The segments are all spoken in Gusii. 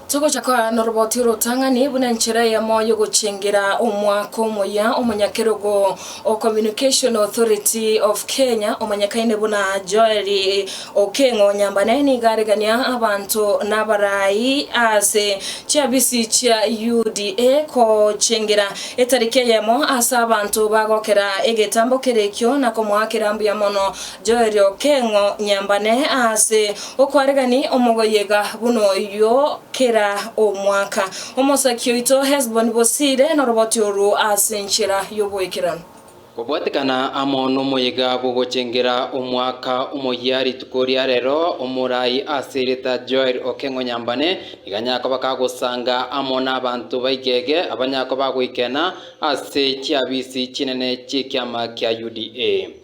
Togocha korara noroboti orotang'ani buna enchera eyemo yogochengera omwaka omoyia. Omonyakerogo o Communication Authority of Kenya omanyekaine buna Joel Okengo Nyambane nigo aregania abanto nabarai ase chiafisi chia UDA gochengera etariki eyemo ase abanto bagokera egetambo kere ekio na komoakera mbuya mono Joeli okeng'o nyambane aase okwaregani omogoyega buna oyio kera omwaka, omosaki oito Hesboni bosiire noroboti oru ase enchera y'oboikeranu. Kobwatekana amo nomoyega bw'ogochengera omwaka omoyia rituko ria rero, omorai ase erieta Joeli okeng'o nyambane nigo anyakoba kagosanga amo nabanto baigege abanyakoba goikena ase chiabisi chinene chi'ekiama kia UDA.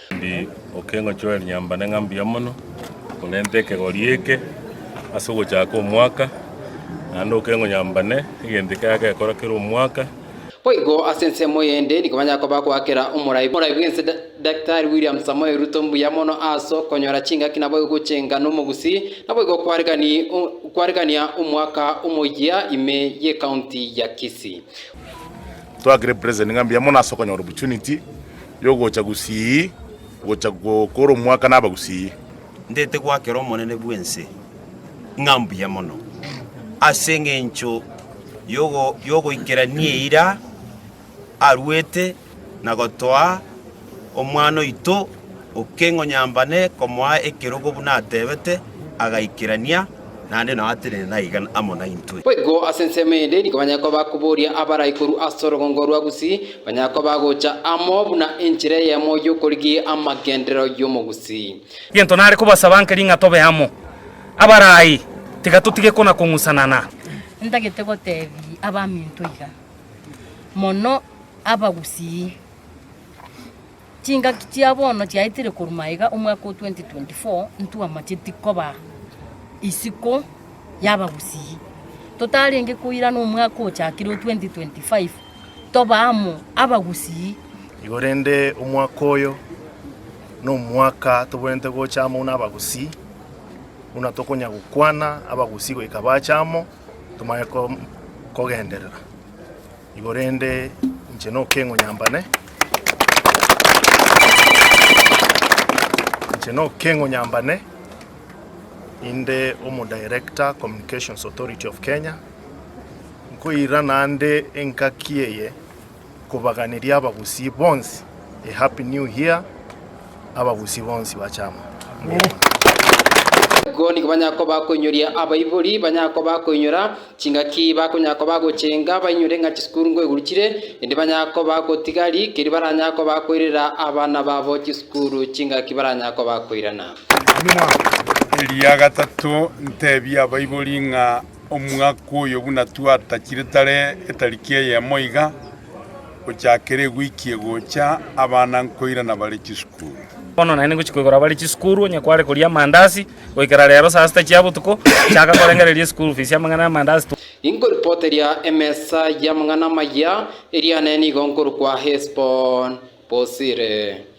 Ndi okengochorera rinyambane ng'a mbuya mono, korenta ekegori eke ase ogochaka omwaka, naende okengonyambane egento ekiaye gekora kera omwaka. Boigo ase ensemo eyende nigo banyara koba goakera omorai morai bw'ense. Daktari William Samoei Ruto mbuya mono ase okonyora chingaki naboigo gochenga nomogusi naboigo kwaregania omwaka omoyia ime y'ecounty ya Kisii. Twaakire president ng'a mbuya mono ase okonyora opportunity Y'ogocha gusii gocha gokora omwaka naba gusii. Ndete goakera Omonene bw'ense ng'a mbuya mono, ase engencho y'ogoikerania eira aruete na gotoa omwana oito o keng'onyambane komoa ekerogo buna atebete, agaikerania. naende nao atenene naiga amo naintwe. Boigo ase ensemo eyende nigo banyare koba bakoboria abarai korwa ase orogongo rwa Gusii, banyare koba bagocha amo buna enchera eyemo y'okorigia amagenderero y'omogusii. Gento nare kobasaba nkeri ng'a tobe amo. Abarai, tiga totige kona-kong'usana na. Ntagete gotebi abaminto iga, mono Abagusii. Chingaki chia bono chiaetire korwa maiga omwaka o 2024 ntwamacheti koba isiko y'abagusii. Totarenge koirana omwaka ochakire o 2025 toba amo abagusii. Igorende omwaka oyo nomwaka toboete gocha amo buna abagusii buna tokonya gokwana abagusii goika bache amo tomanye kogenderera. Igo rende inche nokeng'u nyambane, inche nokeng'u nyambane inde omo Director Communications Authority of Kenya, nkoirana ande engaki eye kobaganeria abagusii bonsi a Happy New Year, abagusii bonsi bache amo. Igo nigo banyara koba bakoinyoria abaibori, banyara koba bakoinyora. Chingaki bakonyara koba gochenga bainyore ng'a chisukuru ngoiguru chire, endi banyara koba gotiga ri, keria baranyara koba koirera abana babo chisukuru chingaki baranyara koba koirana. Eria gatato ntebie abaibori ng'a omwaka oyo buna twatachire tare etariki eyemo iga, gochakera ewiki egocha, abana nkoirana bare chisukuru. Bono naende ngochia koigora bare chisukuru, onye kware koria amandasi, Goikera reero saa sita chia botuko, chaka korengereria eschool fees y'amang'ana y'amandazi tu. Inkoripoteria emesa y'amang'ana amaya, eria nenigo nkorokwa Hesbon bosire.